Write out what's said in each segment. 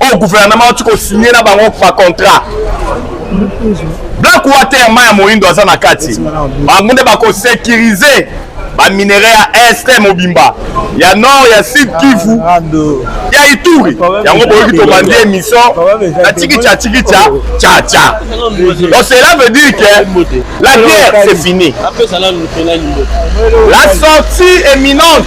oyo oh, guvernema auti kosigne na bango bacontrat black water mai ya moindo aza na kati bango nde bakosekirize baminerai ya est mobimba ya nord ya sud kivu ya ituri yango boyoki tobandi émission na tikitia tikitia caca donc cela veut dire que la guerre c'est fini la sortie éminente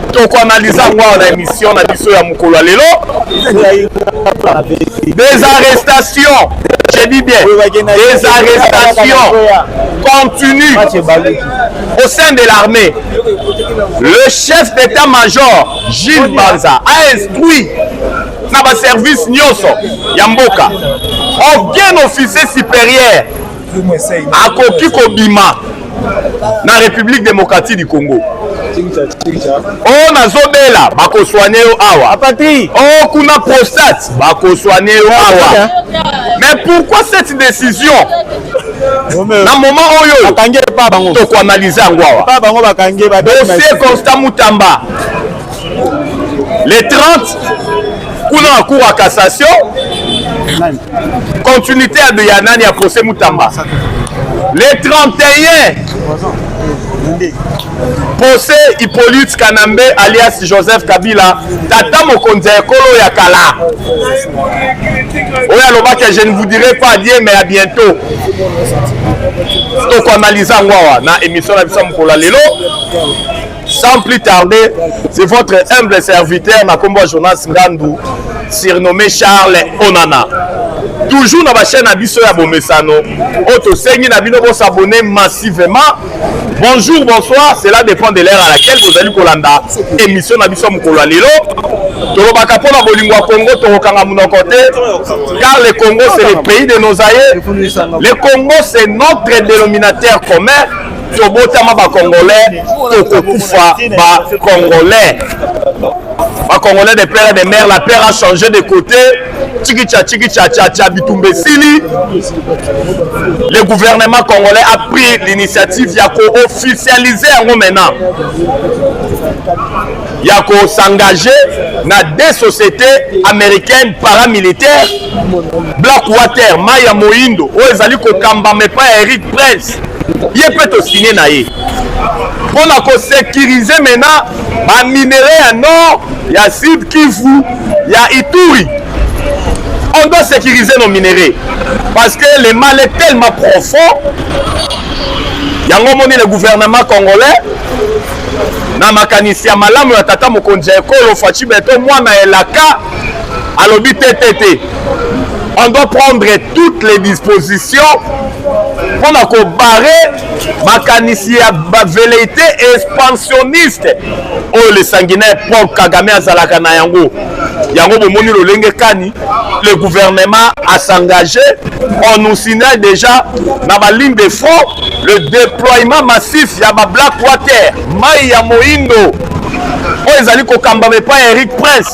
tokoanalyza yango awa na émission na biso ya mokolo ya lelo des arrestations je dis bien des arrestations continues au sein de l'armée le chef d'état-major Gilles Banza a instruit na baservice nyonso ya mboka aucun officier supérieur akoki kobima na république démocratique du congo o oh, nazobela bakoswane yo awa o oh, kuna prostate bakoswane yo awa mais pourquoi cette décision na moment oyo tokoanalyse yango awa dossier constant mutamba le 30 kuna na cour ya cassation continuité ya nani ya procès mutamba le 31 pose hippolyte kanambe alias joseph kabila tata mokonzi ya ekolo ya kala oyo alobaki je ne vous dirai pas adie mais ya bientôt tokoanalize yango awa na émission na biso ya mokolo ya lelo Sans plus tarder, c'est votre humble serviteur na kombo Jonas Ngandu, surnommé Charles Onana. Toujours na ba chaîne na biso ya bomesano, oyo tosengi na bino bo s'abonner massivement. Bonjour, bonsoir, cela dépend de l'heure à laquelle bozali kolanda émission na biso mokolo ya lelo. tolobaka mpo na bolingo ya congo tokokanga monoko te car le congo c'est le pays de nos aïeux le congo c'est notre dénominateur commun tobotama ba congolais tokokufa ba congolais ba congolais de père de mère la père a changé de côté chikicha chikicha cha cha bitumba esili le gouvernement congolais a pris l'initiative ya koofficialize yango maintenant ya kosengage na deux sociétés américaines paramilitaires black water mai ya moindo oyo ezali kokambama epai ya eric prince ye mpe tosigne na ye mpo na kosekirize mena baminere ya nord ya sud kivu ya ituri on doit sécuriser nos minerais parce que le mal est tellement profond yango omoni le gouvernement congolais na makanisi ya malamu ya tata mokonzi ya ekolo faci beto mwana elaka alobi te te te on doit prendre toutes les dispositions mpo na kobare makanisi ya baveleite expansionniste oyo le sanguinaire paul kagame azalaka na yango yango bomoni lolenge kani le gouvernement a s'engage on nous signale déjà na baligne de front le déploiement massif ya bablack water mai ya moindo oyo ezali kokambama epai ya eric prince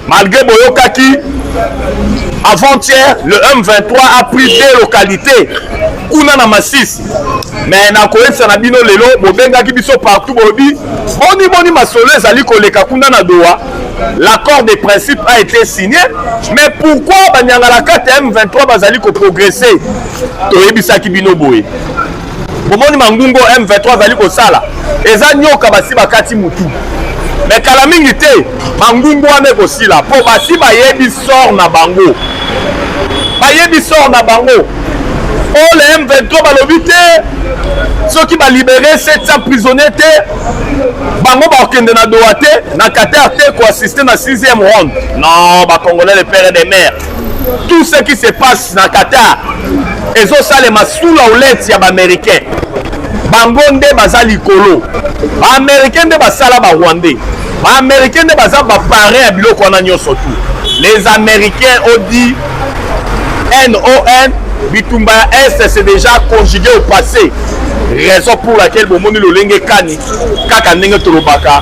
Malgré Boyokaki, avant-hier, le M23 a pris deux localités. Kuna na Masisi. Mais na koyebisa na bino lelo bobengaki biso partout bolobi boni boni masolo ezali koleka kuna na Doha. L'accord de principe a été signé, mais pourquoi Banyangalakata M23 bazali ko progresser Toyebisaki bino boye. bomoni mangungo M23 azali kosala eza nyoka basi bakati mutu me kala mingi te mangungu wana ekosila mpo basi bayebi sor na bango bayebi sor na bango oyo le m23 balobi te soki balibere 700 prisonnier te bango bakokende na doa te na qatar te koassiste na 6e ronde non bacongolais le pere de mare tout ce qui se passe na qatar ezosalema sous la houlette ya baaméricain bango nde baza likolo baaméricain nde basala barwandais baaméricain nde baza baparin ya biloko wana nyonso tu les américains odi non bitumba ya est c'est déjà conjugué au passé raison pour laquelle bomoni lolenge kani kaka ndenge tolobaka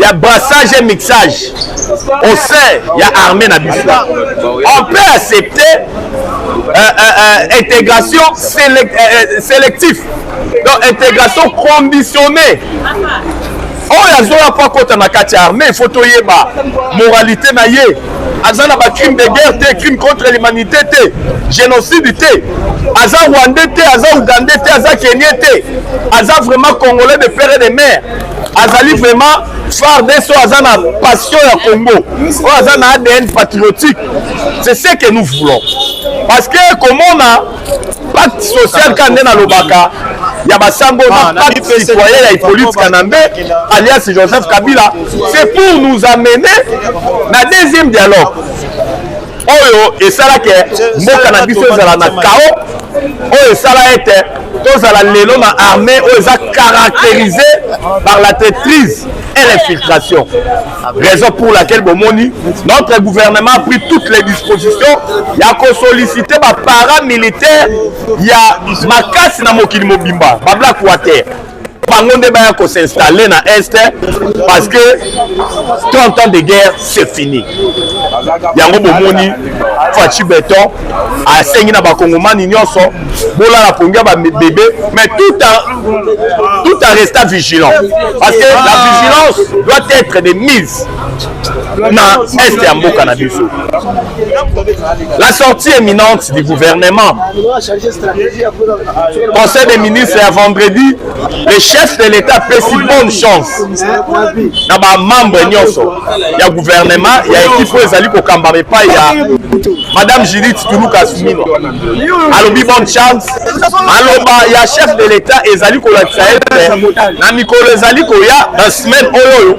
ya brassage et mixage au sein ya armée na biso on peut accepter euh, euh, euh, intégration sélect, euh, euh sélectif donc intégration conditionnée oyo azoya mpo akota na kati ya armée ifo toyeba moralité na ye aza na bacrime de guerre te crime contre l'humanité te génocide te aza rwandais te aza ougandais te aza kenien te aza vraiment congolais de père et de mère azali vraiment FARDC oyo aza na passion ya Congo oyo aza na ADN patriotique c'est ce que nous voulons parce que komona pacte social ka nde nalobaka ya basango na ah, pacte citoyen ya Hippolyte Kanambe alias Joseph Kabila c'est pour nous amener na deuxième dialogue oyo esala ke mboka na biso ezala na kao oyo esala ete tozala lelo na armée oyo eza caractérisé par la traitrise et l'infiltration raison pour laquelle bomoni notre gouvernement a pris toutes les dispositions ya kosollicite baparamilitaire ya makasi na mokili mobimba bablakuwa te bango nde baya ko s'installer na est parce que 30 ans de guerre c'est fini yango bomoni faci beton asengi na bakongomani nyonso bolala pongi ya babebe mais tout en, tout en restant vigilant parce que la vigilance doit être de mise na est ya mboka na biso la sortie éminente du gouvernement conseil des ministres ya vendredi le chef de l'état apesi bonne chance na bamembre nyonso ya gouvernement ya ekipe oyo ezali kokambama epai ya madame judith tuluka sumino alobi bonne chance maloba ya chef de l'état ezali kolakisa ete na mikolo ezali koya na semaine oyo oyo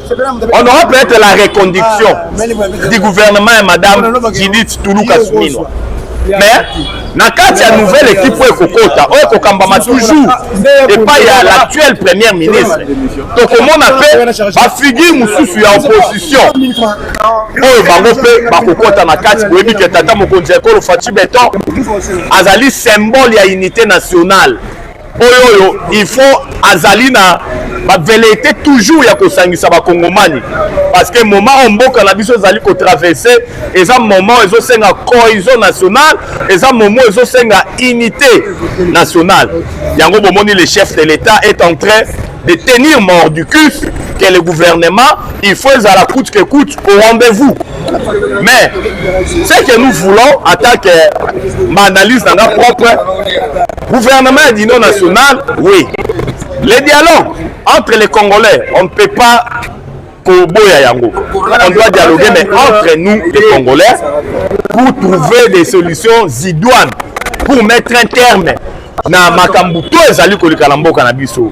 On aura peut-être la reconduction ah, du gouvernement et Madame Judith Toulouka Souminwa. Mais na kati ya nouvelle équipe oyo ekokota oyo ekokambama toujours epai ya l'actuel première ministre tokomona mpe bafigure mosusu ya opposition oyo bango mpe bakokota na kati boyebi ke tata mokonzi ya ekolo faci beton azali symbole ya unité nationale oyo oyo il faut azali na bavelete toujours ya kosangisa bakongomani parce que moment oyo mboka na biso ezali kotraverse eza moment ezosenga cohesion nationale eza moment ezosenga unité nationale yango bomoni le chef de l'état est en train de tenir mort du cul que le gouvernement, il faut à la coûte que coûte au rendez-vous. Mais ce que nous voulons, en tant que ma analyse dans la propre, Gouvernement ya l'Union nationale, oui. Le dialogue entre les Congolais, on ne peut pas koboya yango. On doit dialoguer, mais entre nous, les Congolais, pour trouver des solutions idoines, pour mettre un terme na makambo to ezali koleka na mboka na biso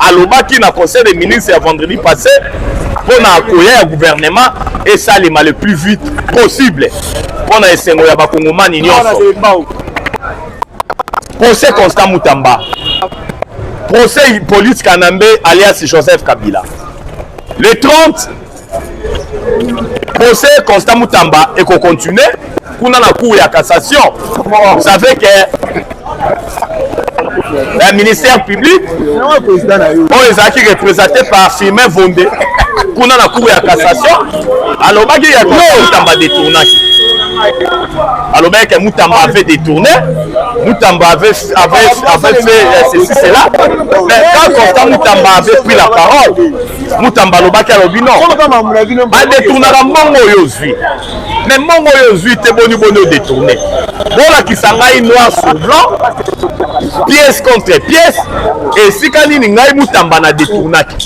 alobaki na conseil des ministres ya vendredi passé mpo na koya ya gouvernement esalema le plus vite possible mpo na esengo ya bakongomani nyonso procès constant mutamba procès hippolyte kanambe alias joseph kabila le 30 procès constant mutamba ekocontinue kuna na cour ya cassation vous savez que un ministère public oyo ezalaki représenté par firmin vonde kuna na cour ya cassation alobaki ya mutamba détournaki alobaki ke mutamba avait détourné mutamba avait, avait, avait fait euh, ceci cela mais quand constant mutamba avait pris la parole mutamba alobaki alobi no badetournaka mbongo oyo ozwi me mbongo oyo ozwi te boni boni odetourne bolakisa ngai noir sur blanc pièce contre pièce esika nini ngai mutamba na detournaki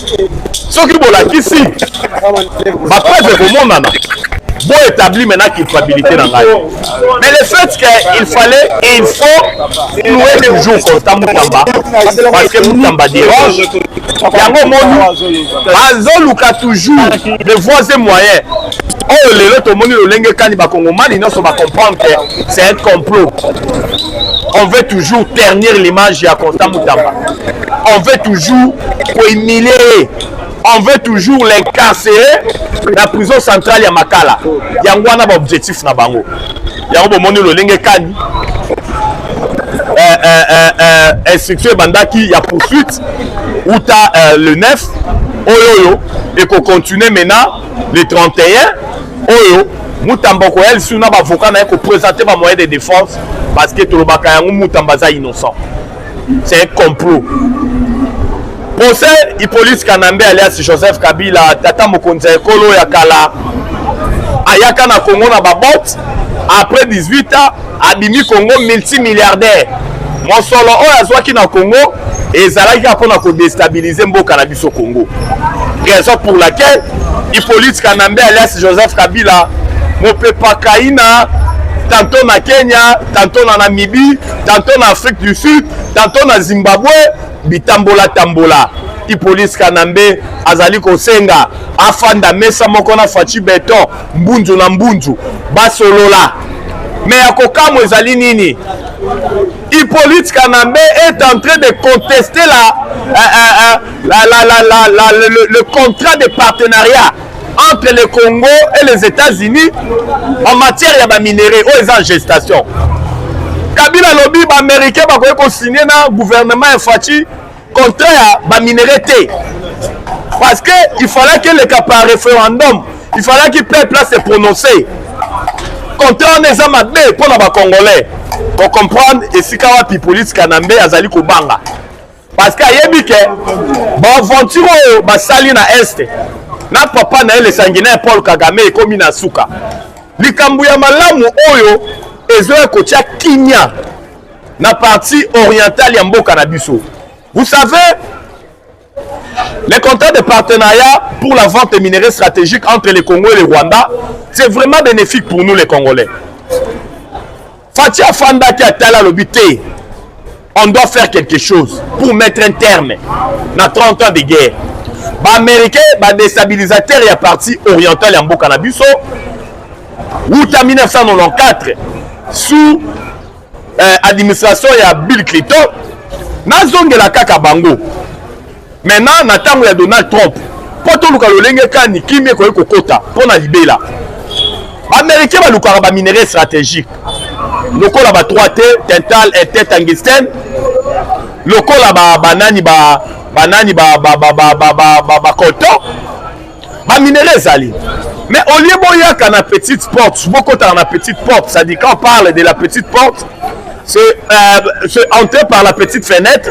soki bolakisi bapreuve ekomonana boetabli mena culpabilité na ngai Mais le fait qu'il fallait, il faut louer toujours Kota Moutamba. Parce que Moutamba dérange. Yango Moni, azoluka toujours de voies et moyens. oyo lelo tomoni lolenge kani bakongomani nyonso bacomprendre que c'est un complot on veut toujours ternir l'image ya constant mutamba on veut toujours kohumilie ye on veut toujours l'incarcérer na prison centrale ya makala yango wana baobjectif na bango yango bomoni lolenge kani eh, eh, eh, instruction ebandaki ya poursuite uta le 9 oyo oyo ekocontinue maintenant le 31 oyo mutamba okoya lisusu na bavoka na ye kopresente bamoyen de défense parce que tolobaka yango mutamba aza innocent C'est un complot. Procès Hippolyte Kanambe alias Joseph Kabila, tata mokonzi ya ekolo ya kala, ayaka na Congo na babote après 18 ans abimi Congo multimilliardaire. Mosolo oyo azwaki na Congo ezalaki kaka mpona kodestabilize mboka na biso Congo. Raison pour laquelle Hippolyte Kanambe alias Joseph Kabila mopepakaina tantôt na Kenya, tantôt na Namibie, tantôt na afrique du sud tantôt na zimbabwe bitambola tambola ipolisi kanambe azali kosenga afanda mesa moko na faci beton mbunzu na mbunzu basolola me ya kokamwa ezali nini ipoliti kanambe est en train de contester la, euh, euh, euh, la, la, la, la, la, le, le contrat de partenariat entre le Congo et les États-Unis en matière ya ba minerais oyo eza en gestation. Kabila lobi ba américains bakoki ko signer na gouvernement ya Fatshi contrat ya ba minerais te. Parce que il fallait que le cas par référendum, il fallait que peuple là se prononcer. Contrat wana eza mabe mpo na ba congolais. Ko comprendre esika wapi police Kanambe azali kobanga. parce que ayebi ke baaventure oyo basali na este na papa na ye le sanguinaire paul kagame ekomi na suka likambo ya malamu oyo ezoya kotya kimia na partie orientale ya mboka na biso vous savez les contrats de partenariat pour la vente des minerais stratégiques entre le congo et le rwanda c'est vraiment bénéfique pour nous les congolais Fatshi afandaki atala alobi te on doit faire quelque chose pour mettre un terme na 30 ans de guerre baaméricain badestabilisateur ya parti oriental ya mboka na biso wuta 1994 sous euh, administration ya bill clinton nazongela kaka bango Maintenant na tango ya Donald Trump mpo toluka lolenge kani kimia ekoki kokota mpo na libela baaméricain balukaka baminerai stratégique lokola ba 3 te tental ete tangisten lokola banani banani bacolton baminerai ezali mais au lieu boyaka na petite porte bokotaka na petite porte c'est-à-dire quand on parle de la petite porte c'est euh, entrer par la petite fenêtre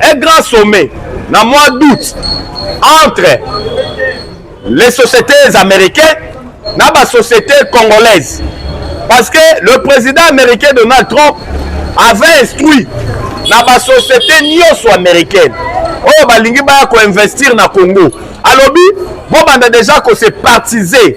Un grand sommet na mois d'août entre les sociétés américaines na ba sociétés congolaises parce que le président américain Donald Trump avait instruit na ba sociétés nyonso américaines oyo balingi baya koinvestir na Congo alobi bobanda deja kose partize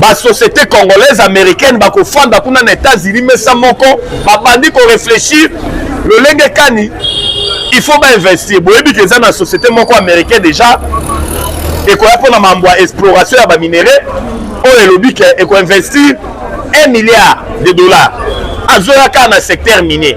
basociété congolaise américaine bakofanda kuna na états-unis mesa moko babandi korefléchir lolenge kani il faut bainvestir boyebi ke eza na société moko américain déjà ekoya mpona mambo ya exploration ya baminerais oyo elobi ke ekoinvestir 1 milliard de dollars azoya kaka na secteur minier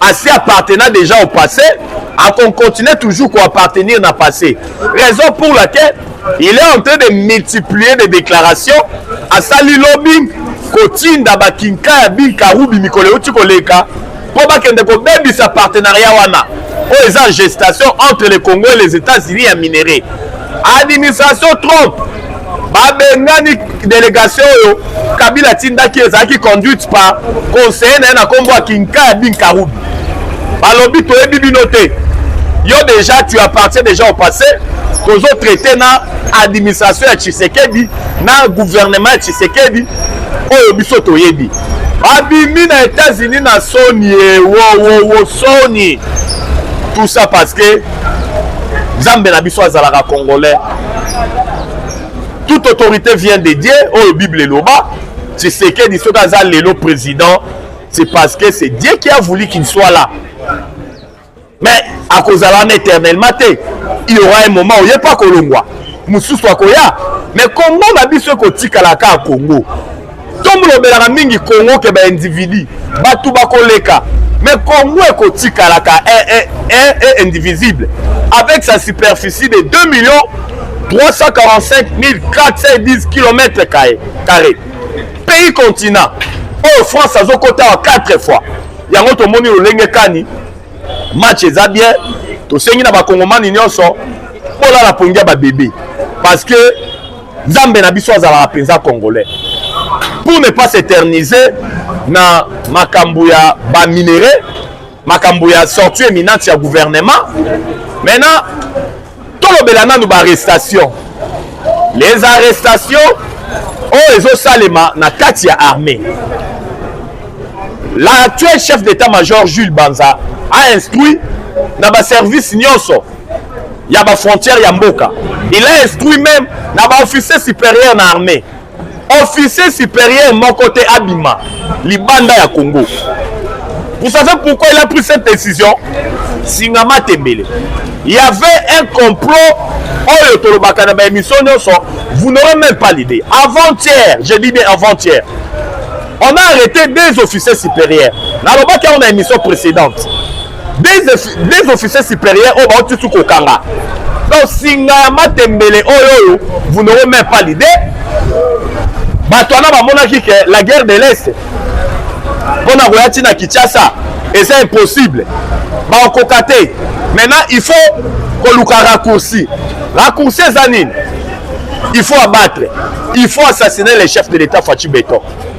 asi appartena déjà au passé akocontinue toujours koappartenir na passé raison pour laquelle il est en train de multiplier des déclarations asali lobbying kotinda bakinka ya binkarubi mikolo euti koleka mpo bakende kobebisa partenariat wana oyo eza gestation entre le congo et les états-unis ya minerais administration trump babengani delegation oyo kabila atindaki ezalaki conduite par conseiller na ye na nkombo ya kinkaya binkarubi balobi toyebi bino te yo déjà tu appartiens déjà au passé tozo traite na administration ya tshisekedi na gouvernement ya tshisekedi oyo biso toyebi babimi na états-unis na soni ye wowowo soni tout ça parce que nzambe na biso azalaka congolais toute autorité vient de dieu oyo bible eloba tshisekedi soki aza lelo président c'est parce que c'est dieu qui a voulu qu'il soit là mais akozala wana éternellement te il y aura un moment oye mpe akolongwa mosusu akoya mais congo na biso ekotikala kaka congo tomolobelaka mingi congo ke ba individu bato bakoleka mais congo ekotikalaka e, e, e, indivisible avec sa superficie de 2 millions 345 410 km carré pays continent oyo france azokota wa 4 fois yango tomoni lolenge kani match eza bien tosengi na bakongomani nyonso bolala pongi ya babebe parce que nzambe na biso azalaka mpenza congolais pour ne pas s'éterniser na makambo ya baminerais makambo ya sortie éminente ya gouvernement maintenant tolobela nanu baarrestation les arrestations oyo ezosalema na kati ya armée l'actuel chef d'état-major jules banza a instruit na baservice nyonso ya ba frontière ya mboka il a instruit même na ba officier supérieur na armée officier supérieur moko te abima libanda ya congo vous savez pourquoi il a pris cette décision singama tembele il y avait un complot oyo tolobaka na baémission nyonso vous n'aurez même pas l'idée avant-hier je dis bien avant-hier on a arrêté deux officiers supérieurs nalobaki yango na émission précédente des officiers supérieurs oyo bauti su kokanga donc singa ya matembele oyo oyo vous n'aurez même pas l'idée bato wana bamonaki ke la guerre de l'est mpo na koya ntina kinshasa eza impossible bakokoka te maintenant il faut koluka raccourci raccourci eza nini il faut abattre il faut assassiner le chef de l'état faci beton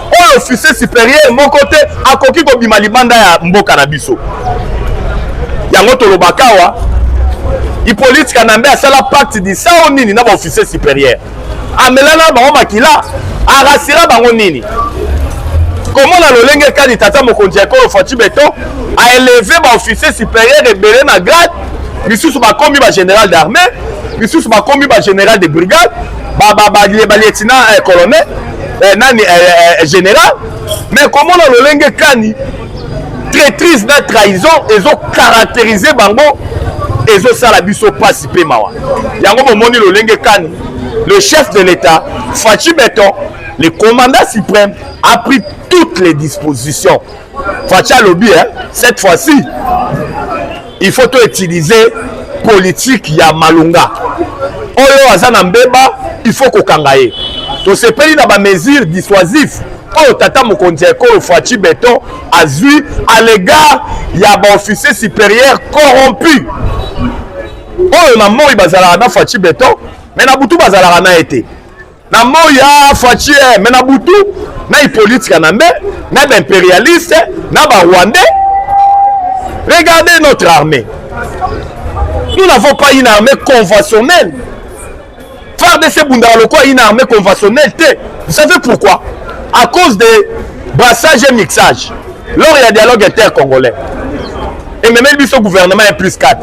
oyo officier superieur moko te akoki kobima libanda ya mboka na biso yango tolobaka awa hippolyte kanambe asala pacte disao nini na baofficier superieur amelana bango makila arasira bango nini komona lolenge kani tata mokonzi ya ekolo faci beton aeleve baofficier superieur ebele na grade misusu bakomi bagénéral d'armée misusu bakomi bagénéral de brigade balieutina eh, colonel eh, nani eh, eh, eh général mais komona lolenge kani traitrise na trahison ezo caractérise bango ezosala biso mpasi mpe mawa yango bomoni lolenge kani le chef de l'état faci beton le commandant suprême a pris toutes les dispositions faci alobi hein, cette fois-ci il faut to utiliser politique ya malonga oyo aza na mbeba il faut kokanga ye tosepeli na bamesure dissuasif oyo tata mokonzi ya ekolo faci beton azwi à l'égard ya baofficier supérieur corrompu oyo na moi bazalaka na faci beton me na butu bazalaka na ye te na moi ya faci eh, me na butu na hippolyte kanambe na baimperialiste na barwandais regardez notre armée nous n'avons pas une armée conventionnelle fardc ebundaka lokola une armée conventionnelle te vous savez pourquoi à cause de brassage et mixage lors ya dialogue intercongolais ememeli biso gouvernement ya plus 4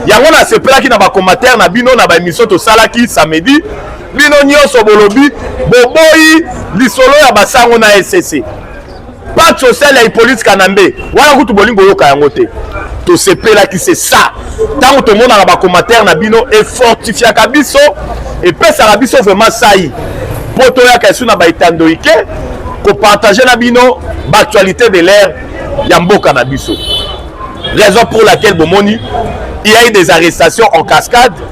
yango nasepelaki na bacommatere na bino na baémission tosalaki samedi bino nyonso bolobi boboyi lisolo ya basango na ecc pacte social ya hippolyte kanambe wana kutu bolingi koyoka yango te tosepelaki se sa ntango tomonaka bacommentaire na bino efortifiaka biso epesaka biso vraiment sai mpo toyaka esu na baetandoike kopartage na bino baactualité de l'air ya mboka na biso raison pour laquelle bomoni il y a eu des arrestations en cascade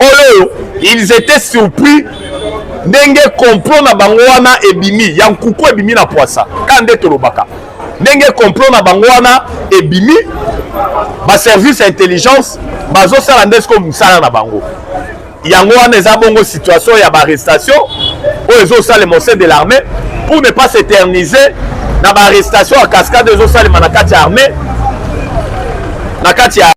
oyo ils étaient surpris ndenge complot na bango wana ebimi ya nkuku ebimi na pwasa ka nde tolobaka ndenge complot na bango wana ebimi baservice ya intelligence bazosala nde sikoyo mosala na bango yango wana eza bongo situation ya baarrestation oyo ezosalema au sein de l'armée pour ne pas s'éterniser na baarrestation ya cascade ezosalema na kati ya armée na kati ya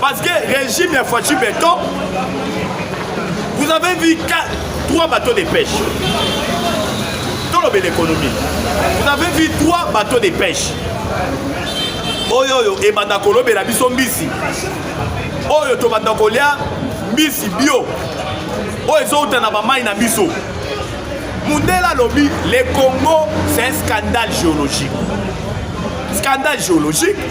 Parce que régime ya Fatshi Beton, vous avez vu trois bateaux de pêche. Dans le l'économie, vous avez vu trois bateaux de pêche. Oyo oyo ebanda kolobela biso mbisi. Oyo tobanda kolia mbisi bio. Oyo ezouta na bamai na biso. Mundela lobi, le Congo c'est un scandale géologique. Scandale géologique.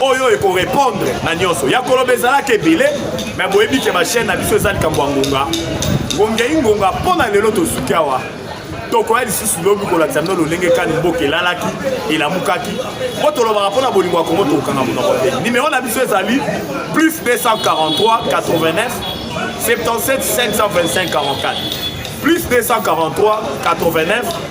oyo ekorepondre na nyonso ya koloba ezalaka ebele me boyebi ke bachaine na biso eza likambo ya ngonga ngongei ngonga mpo na lelo tosuki awa tokoya lisusu lobi kolakisa bino lolenge kani mboka elalaki elamukaki mpo tolobaka mpo na bolingo ya kongo tokokanga monoko te nimero na biso ezali plus 243 89 77 525 44 plus 243 89